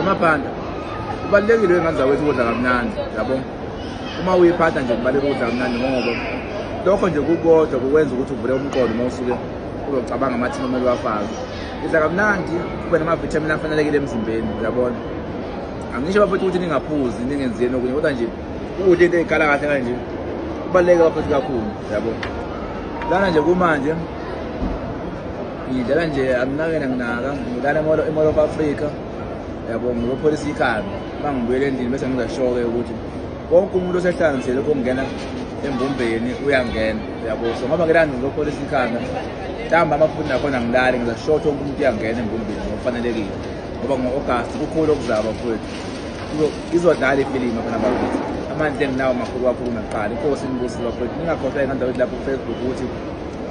Mabhanda, kubalulekile wengane zakwethu ukudla kamnandi, yabo. Uma uyiphatha nje kubalulekile ukudla kamnandi ngoba lokho nje kukodwa kukwenza ukuthi uvule umqondo uma usuke uzocabanga amathini omele uwafake. Idla kamnandi, kube namavithamini afanelekile emzimbeni, uyabona. Angisho bafethu ukuthi ningaphuzi, ningenzeni okunye, kodwa nje ukudla into ey'khala kahle kanje kubaluleke bafethu kakhulu, yabo. Lana nje kumanje ngidlala nje anginakena nginaka ngidlala imolo of africa yabo ngiyopholisa ikhanda bangibuyele endlini bese ngizasho-ke ukuthi konke umuntu osehlanganisele ukungena embumbeni uyangena yabo so ngoba ngelani ngizopholisa ikhanda mhlawumbe amafundi nakhona ngilali ngizasho ukuthi wonke umuntu uyangena embumbeni ngokufanelekile ngoba ngo-agasti kukhulu okuzaba futhi izodlala ifilimu khona bakuthi amandla enginawo makhulu kakhulu nakuqala inkosi inibusile bakwethu ningakhohlwa engandawethi lapho kufacebook ukuthi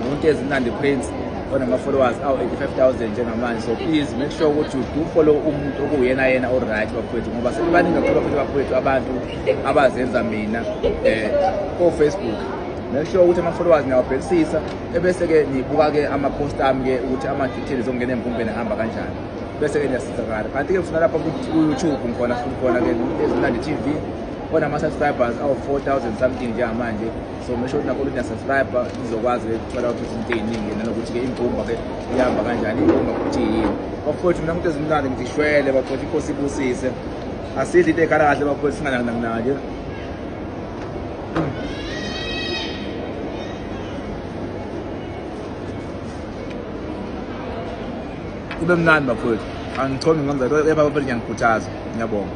umuntu ezimnandi prince onama-followers awu-85000 njengamanje so please make sure ukuthi do follow umuntu okuwuyena yena oright bafowethu ngoba sekubaningi kakhulu futhi bafowethu abantu abazenza mina um eh, kofacebook make sure ukuthi ama-followers ngiyawabhekisisa ebese-ke nibuka-ke ama-post ami-ke ukuthi ama-details okungena emvumbeni ahamba kanjani bese-ke niyasizakala kanti-ke ngifuna lapha ku-youtube ngikhona futhi khona-ke ezimnandi tv onama-subscribers awu-four thousand something njengamanje so make sure nakho ukuthi subscribe izokwazi ukuthola ukuthi into eziningi nanokuthi ke imbumba ke ihamba kanjani imbumba ukuthi yini bafowethu mina umuntu ezimnandi ngizishwele bafowethu inkosi ibusise asidli into ekhala kahle bafowethu singananginanginanje kube mnandi bafowethu angichome ngamza kepha bafowethu ngiyangikhuthaza ngiyabonga